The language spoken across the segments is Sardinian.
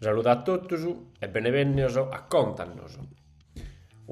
Saludo a totus e benevènnios a Contanos,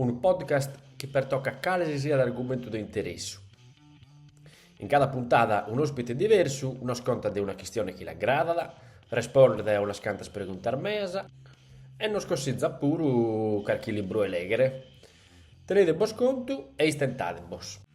unu podcast chi pertocat cale si siat argumentu de interessu. In cada puntada un'òspite diversu nos contat de una chistione chi l'agradat, respondet a unas cantas preguntas meas e nos consitzat puru carchi libru 'e lèghere. Tenedebos contu e istentadebos!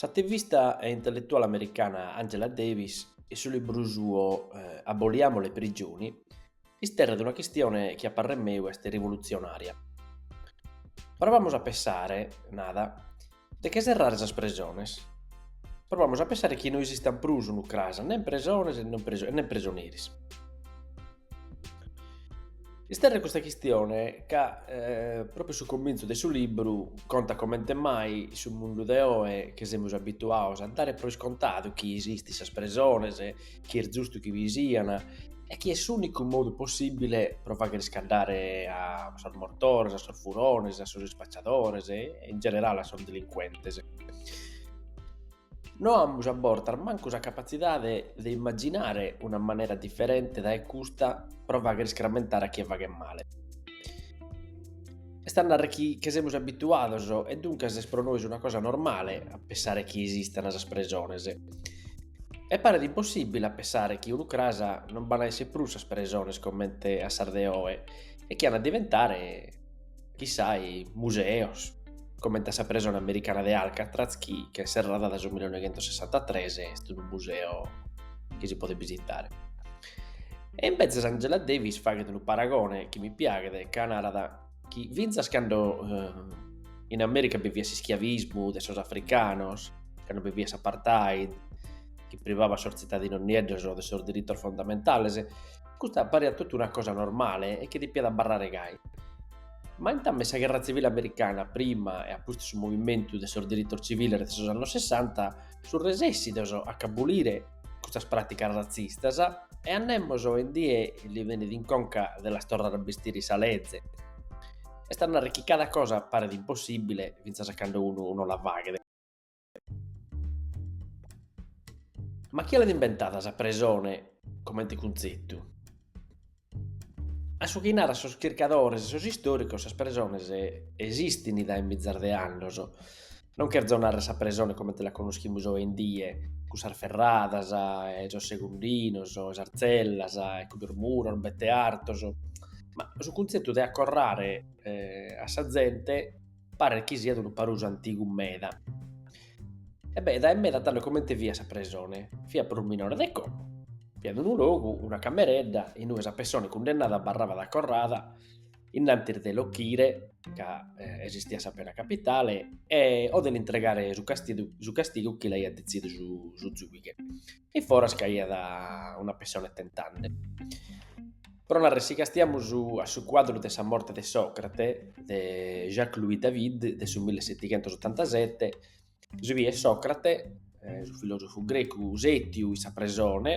S'ativista e intelletuale americana Angela Davis, in su libru suo Aboliamo le prigioni, isterret una chistione chi a parrer meu est rivolutzionària. Provamus a pensare, narat, de che serrare sas presones. Provamus a pensare chi no esistant prus, unu cras, nen presones e nen presoneris. Isterret custa chistione ca propriu su comintzu de su libru contat comente mai in su mundu de oe che semus abituados a dare pro iscontadu chi esistan sas presones, chi est giustu chi bi sian e chi est s'unicu modu possibile pro fagher iscaddare a sos mortores, a sos furones, a sos ispacciadores e in generale a sos delincuentes. No amus a bortas mancu sa capatzidade de imaginare una manera diferente dae custa pro fagher iscramentare a chie faghet male. Est a narrer chi che semus abituados e duncas est pro nois una cosa normale a pensare chi esistan sas presones. E paret impossìbile a pensare chi unu cras non b'an a èssere prus sas presones comente a sas de oe e chi an a diventare Chissà museos, comente a sa presone americana de Alcatraz chi ch'est serrada dae su 1963 e est unu museo chi si podet bisitare. E imbetzes Angela Davis faghet unu paragone chi mi piaghet ca narat chi fintzas cando in America bi fiat s'ischiavismu de sos africanos, cando bi fiat s'apartheid chi privaiat sos tzitadinos nieddos de sos diritos fondamentales, Custa pariat totu una cosa normale e chi depiat abarrare gai. Ma intames sa gherra tzivile americana prima e a pustis su movimentu de sos diritos tziviles de sos annos Sessanta sunt resessidos a ch'abolire custas pràticas ratzistas e a nemos oe in die li benit in conca de las torrare a bestire sa leze. Est a narrer chi cada cosa paret impossìbile fintzas a cando unu no la faghet. Ma chie l'at imbentada sa presone comente cuntzetu? A su chi naran sos chircadores e sos istòricos sas presones esistin dae mizas de annos, non cherzo narrer sa presone comente la connoschimus oe in die, cun sas ferradas e sos segundinos e sas tzellas e cun sos muros bette artos, ma su cuntzetu de accorrare a sa zente Paret chi siat unu parusu antigu meda. E beh, dae meda tando comente fiat sa presone, fiat prus minore de como. Fiat unu logu, una cameredda, in ue sa pessone cundennada abarrabat acorrada, in antis de l'ochire, ca esistiat sa pena capitale, o de l'intregare su castigu chi l'aiat detzidu su zuighe. e foras ch'aiat una pessone tentande. Pro narrer si castiamus a su cuadru de sa morte de Socrate de Jacques Louis David de su mille setighentos otantasette, si biet Socrate, su filosofu grecu setiu in sa presone,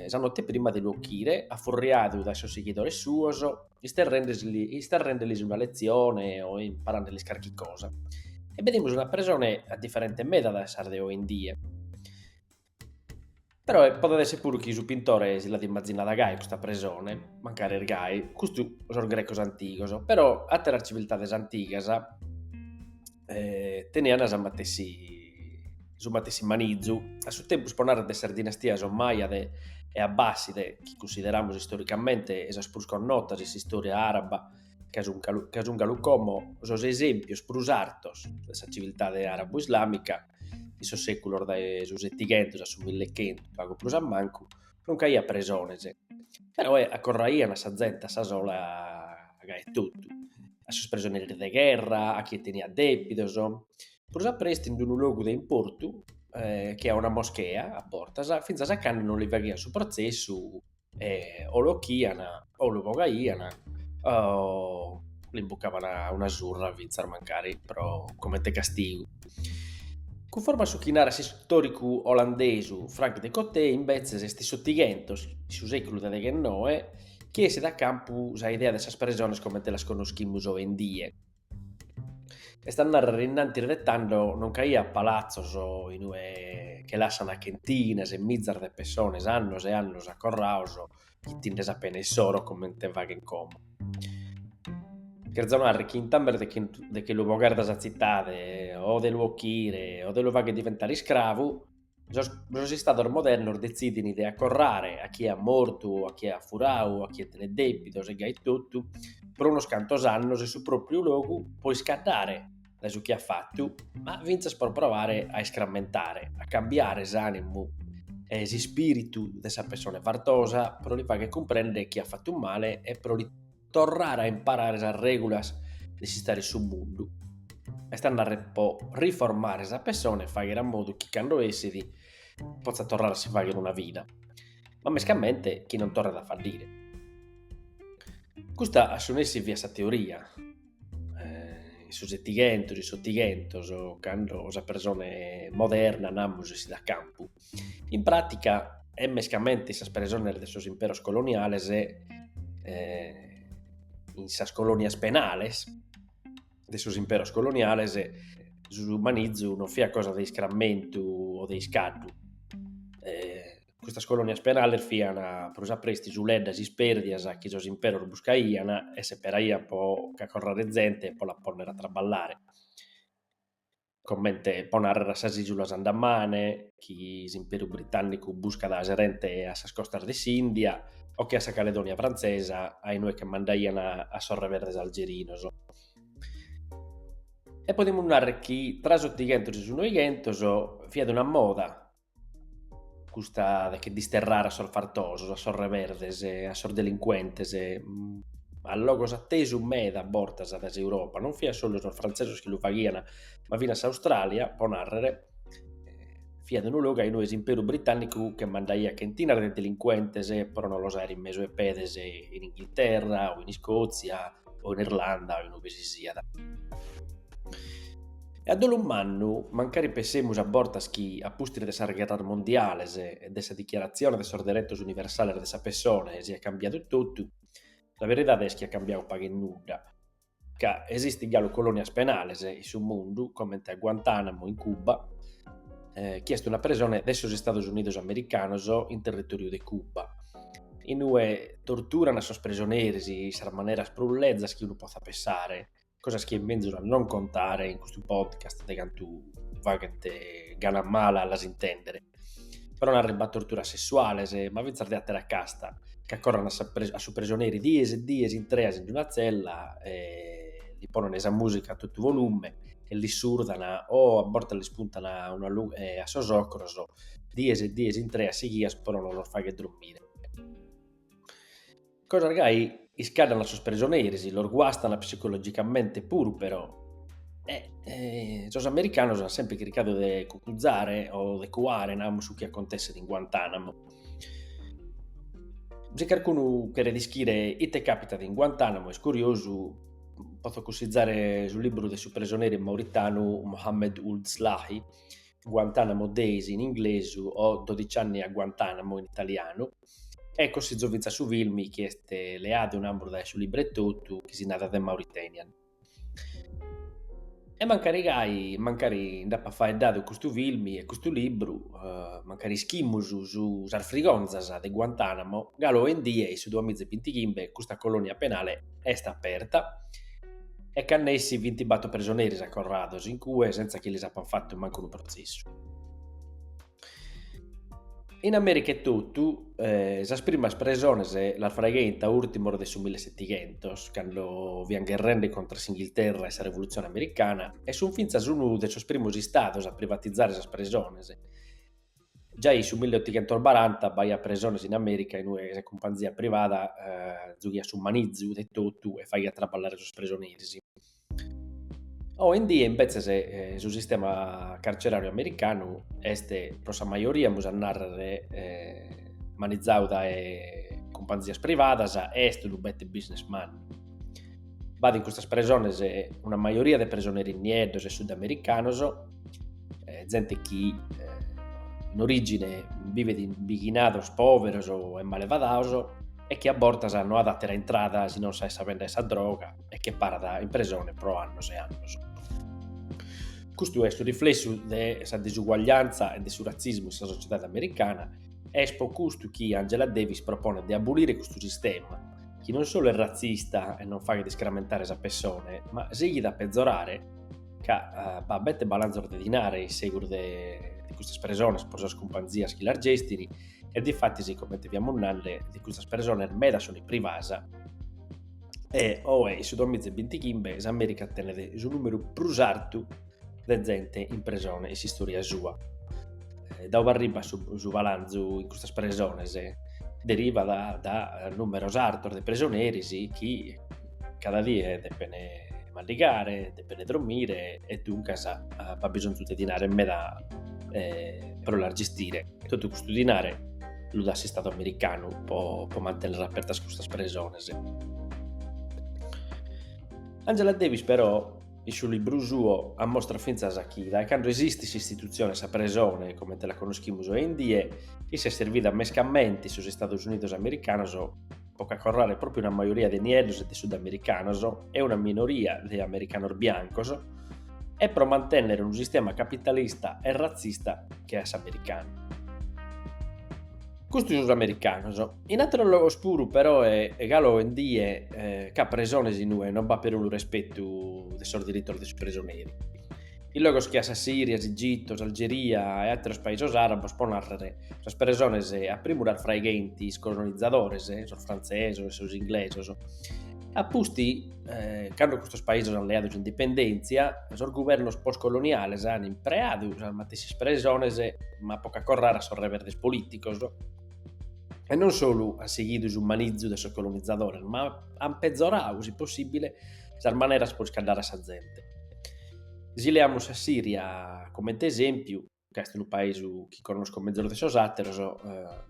sa note prima de lu ochire, affurriadu dae sos sighidores suos, isterrendelis una letzione o imparandelis carchi cosa. E bedimus una presone a diferente meda dae sas de oe in die. Però podet esser puru chi su pintore si l'at imaginada gai custa presone, mancari est gai, custu sos grecos antigos, però atteras civiltades antigas eh, tenian sa matessi, su matessi manizu, a su tempus po narrer de sas dinastias Ommaiade e Abbaside, chi cunsideramus istoricamente sas prus connotas in s'istoria araba, ca sun, ca sun galu como sos esempios prus artos de sa civiltade arabo-islàmica, in sos sèculos dae su setighentus a su millechentu, pagu prus a mancu, non ch'aiat presones, però accorraian sa zente a sa sola gai e totu. a sos presoneros de gherra, a chie teniat dèbidos. Prus a prestu, in unu logu de importu, che a una moschea a bortas, fintzas a cando non li faghian su protzessu e o l'ochian o lu bogaian o l'imbucavan una surra fintzas mancari pro comente castigu. Cunforma a su chi narat s'istòricu olandesu Frank Dikötter, imbetzes est in s'Otighentos, in su sèculu de deghennoe, chi essit a campu sa idea de sas presones comente las connoschimus oe in die. Est a narrer innantis de tando non ch'aiat palatzos in ue che lassana chentinas e mizas de pessones annos e annos acorraos chitinde sa pena issoro comente faghen como. Cherzo narrer chi in tambes de che lu bogare dae sa tzitade o de lu ochire o de lu fagher diventare iscravu Sos sos istados modernos detzidin de acorrare a chie at mortu o a chie at furau o a chie tenet dèbitos e gai totu pro unos cantos annos in su pròpriu logu pro iscaddare dae su chi at fatu, ma fintzas pro provare a iscrammentare, a cambiare s'ànimu e s'ispìritu de sa pessone fartosa pro li fagher cumprender chi at fatu male e pro li Torrare a imparare sas règulas de s'istare in su mundu, est a narrer pro riformare sa pessone e fàghere a modu chi cando essit potzat torrare a si fàghere una vida, ma mescamente chi non torret a faddire. Custa a su nessi fiat sa teoria, in su setighentos, in s'otighentos, cando sa presone moderna, namus, essit a campu. In pràtica, e mescamente in sas presones de sos imperos coloniales e in sas colònias penales de sos imperos coloniales, su manizu non fiat cosa de iscrammentu o de iscaddu. Custas colònias penales fiant prus a presti suleddas ispèrdias chi sos imperos buscaiant e seperaiant pro cacorrare zente pro la pònnere a traballare comente pro narrer a sas Ìsulas Andamane, chi s'Imperu Britànnicu buscat aserente a sas costas de s'Ìndia, o che a sa Caledònia Frantzesa, a inue che mandaian a sos reberdes algerinos. E podimus narrer chi tra s'otighentos e su noighentos fiat una moda custa de che disterrare a sos fartosos, a sos reberdes, a sos delincuentes, mm, a logos attesu meda bortas dae s'Europa, non fiat solu sos frantzesos chi lu faghian, ma finas s'Australia, pro narrer, fiat unu logu a inue s'Imperu Britànnicu che mandaiat chentinas de delincuentes pro non los aer in mesu 'e pedes in Inghilterra o in Iscòtzia, o in Irlanda o in ue si siat. E a dolu mannu, mancari pensemus a bortas chi a pustis de sas gherras mondiales e de sa dichiaratzione de sos deretos universales de sa pessone siat cambiadu totu, sa beridade est chi at cambiadu pagu e nudda, ca esistint galu colònias penales in su mundu, comente a Guantànamo in Cuba, eh, chi est una presone de sos Estados Unidos Americanos in territòriu de Cuba, in ue torturan a sos presoneris in sas maneras prus lezas chi unu potzat pensare, cosas chi est menzus a non contare in custu podcast de cantu faghent gana mala a las intèndere. Però narribat torturas sessuales, eh, ma fintzas de àtera casta, che acorran a su presoneri dies e dies intreas in una tzella e li ponen sa mùsica a totu volume e l'issurdan o a bortas lis puntan a sos ocros, dies e dies intreas sighias pro no los fagher drommire. Cosas gai iscaddan a sos prisoneris, los guastan psicologicamente puru però e sos americanos an sempre chircadu de cucuzare o de cuare, namus, su chi acontesset in Guantanamo. Si carcunu cheret ischire ite capitat in Guantanamo est curiosu potzo cussizare su liburu de su presoneri mauritanu Mohamedou Ould Slahi, Guantanamo Days in inglesu o Dodici anni a Guantanamo in italianu, e cussizzo fintzas su filmi chi est leadu in ampru dae su libru etotu chi si narat The Mauritanian. E mancari gai, mancari nd'apat faeddadu custu filmi e custu libru, mancari ischimus su sas frigonzas de Guantanamo, galu oe in die in su duamiza e bintighimbe custa colonia penale est aperta e b'at nessi vintibator presoneris acorrados in cue sentza chi lis apan fatu mancu unu protzessu. In Amèrica etotu sas primas presones las fraigheint a ùrtimos de su millesetighentos, cando fiant gherrende contra a s'Inghilterra e sa Revolutzione Americana, e sunt fintzas unu de sos primos istados a privatizare sas presones. Giai in su milleotighentos baranta b'aiat presones in Amèrica in ue sa cumpanzia privada giughiat su manizu de totu e faghiat traballare sos presoneris Oi in die imbetzes eh, su sistema carceràriu americanu est pro sa majoria, amus a nàrrere, eh, manizadu dae cumpanzias privadas e est unu bete business man. B'at in custas presones una majoria de presoneris nieddos e sudamericanos, eh, zente chi eh, in origine bivet in bighinados pòveros e malefadados e chi a bortas no at àtera intrada si non sa 'e sa bèndida 'e sa droga, e che parat in presone pro annos e annos. Custu est su riflessu de sa disuguaglianza e de su ratzismu in sa sociedade americana e est pro custu chi Angela Davis proponet de abolire custu sistema, chi non solu est ratzista e non faghet iscramentare sa pessone, ma sighit a pezorare ca eh, b'at bete balanzos de dinare in segus de de custas presones pro sas cumpanzias chi las gestin e difatis, comente fiamus nande, de custas presones medas sunt privadas e oe in su 2025 s'Amèrica tenet su nùmeru prus artu de zente in presone in s'istòria sua. Eh, dae ue arribat su, su balanzu in custas presones, derivat dae, dae nùmeros artos de presoneris chi cada die depen mandigare, depen dromire e duncas b'at bisonzu de dinare meda eh, pro las gestire. Totu custu dinare lu dat s'Istadu americanu po, po mantènnere apertas custas presones. Angela Davis però in su libru suo ammostrat fintzas chi dae cando esistit s'istitutzione 'e sa presone comente la conoschimus oe in die, issa est servida mescamente in sos Istados Unidos americanos po cacorrare pròpiu una majoria de nieddos e de sudamericanos e una minoria de americanos biancos, e pro mantènnere unu sistema capitalista e ratzista che a s'americanu. Custu sos americanos. In àteros logos puru però e' galu oe in die b'at presones in ue non b'at perunu respetu de sos diritos de su presoneri. in logos che a sa Siria, s'Igitu, s'Algeria e àteros paisos àrabos pro nàrrere sas presones a primu las fraigheint sos colonizadores, sos frantzesos e sos inglesos. A pustis, cando custos paisos ant leadu s'indipendèntzia, sos guvernos postcoloniales ant impreadu sas matessis presones ma pro cacorrare a sos rebeldes polìticos e non solu ant sighidu su manizu de sos colonizadores ma ant pezoradu, si possìbile, sas maneras pro iscaddare a sa zente. Si leamus sa Siria comente esempiu, ca est unu paisu chi connosco mezus de sos àteros,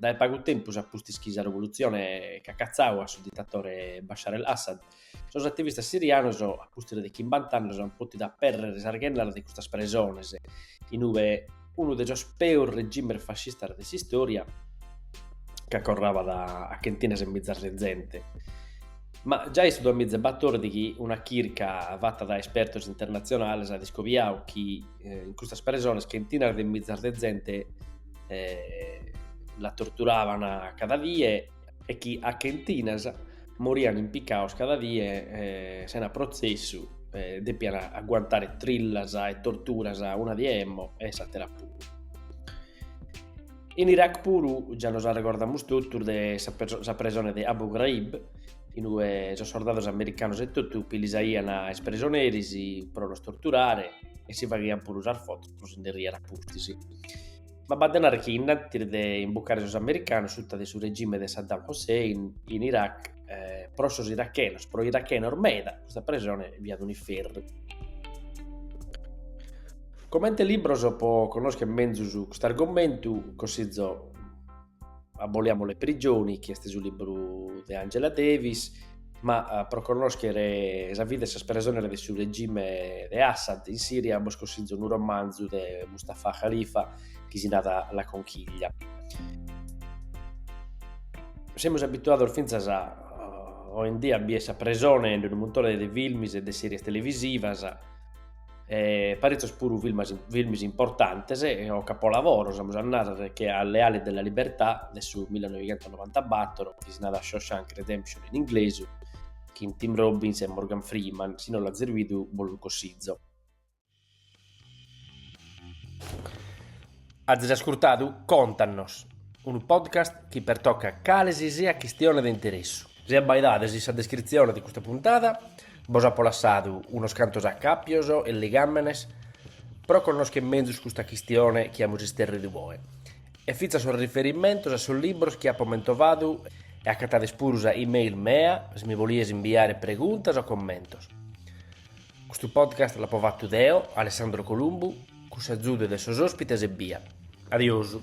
dae pagu tempus a pustis chi sa revolutzione ch'at catzau a su ditatore Bashar al-Assad, sos ativistas sirianos a pustis de chimbant'annos ant pòtidu aperrere sas ghennas de custas presones in ue unu de sos peus regimes fascistas de s'istòria, chi acorrabat a chentinas 'e mizas de zente. Ma giai in su duamiza e batordighi una chirca fata dae espertos internatzionales at iscobiadu chi in custas presones chentinas de mizas de zente la torturaban cada die e chi a chentinas morian impicados cada die eh, sena protzessu, eh, depian aguantare trillas e torturas una die emmo e s'atera puru. In Iraq puru già nos arrecordamus totus de sa presone de Abu Ghraib, in ue sos sordados americanos e totu pilisaian a is presoneris pro los torturare e si faghian puru sas fotos pro si nde riere a pustis. Ma b'at de narrer chi in antis de imbucare sos americanos suta de su regime de Saddam Hussein in Iraq, pro sos irachenos, pro irachenos meda, custa presone fiat un'iferru. Comente libros pro connoschere menzus cust'argomentu, consizo. Aboliamo le prigioni, chi est su libru de Angela Davis, ma eh, pro connoschere sa vida 'e sas presones de su regime de Assad in Siria bos consizo unu romanzu de Mustafa Khalifa chi si narat La Conchiglia. Semus abituados fintzas a eh, oe in die a bider sa presone in unu muntone de filmis e de series televisivas, E paritzos puru filmis importantes o capolavoros, amus a narrer che a Le ali della libertà de su 1994, chi si narat Shawshank Redemption in inglesu, chin Tim Robbins e Morgan Freeman, si no l'azis bidu bos lu cossizo. Azis ascurtadu Contanos, unu podcast chi pertocat cale si siat chistione de interessu. Si abbaidades in sa descritzione de custa puntada bos apo lassadu unos cantos acàpios e ligàmenes pro connoschere mezus custa chistione chi amus isterridu oe e fintzas sos riferimentos a sos libros chi apo mentovadu e acatades puru sa e-mail mea si mi bolides imbiare preguntas o commentos. Custu podcast l'apo fatu deo, Alessandro Columbu, cun s'azude de sos ospites ebbia. Adiosu.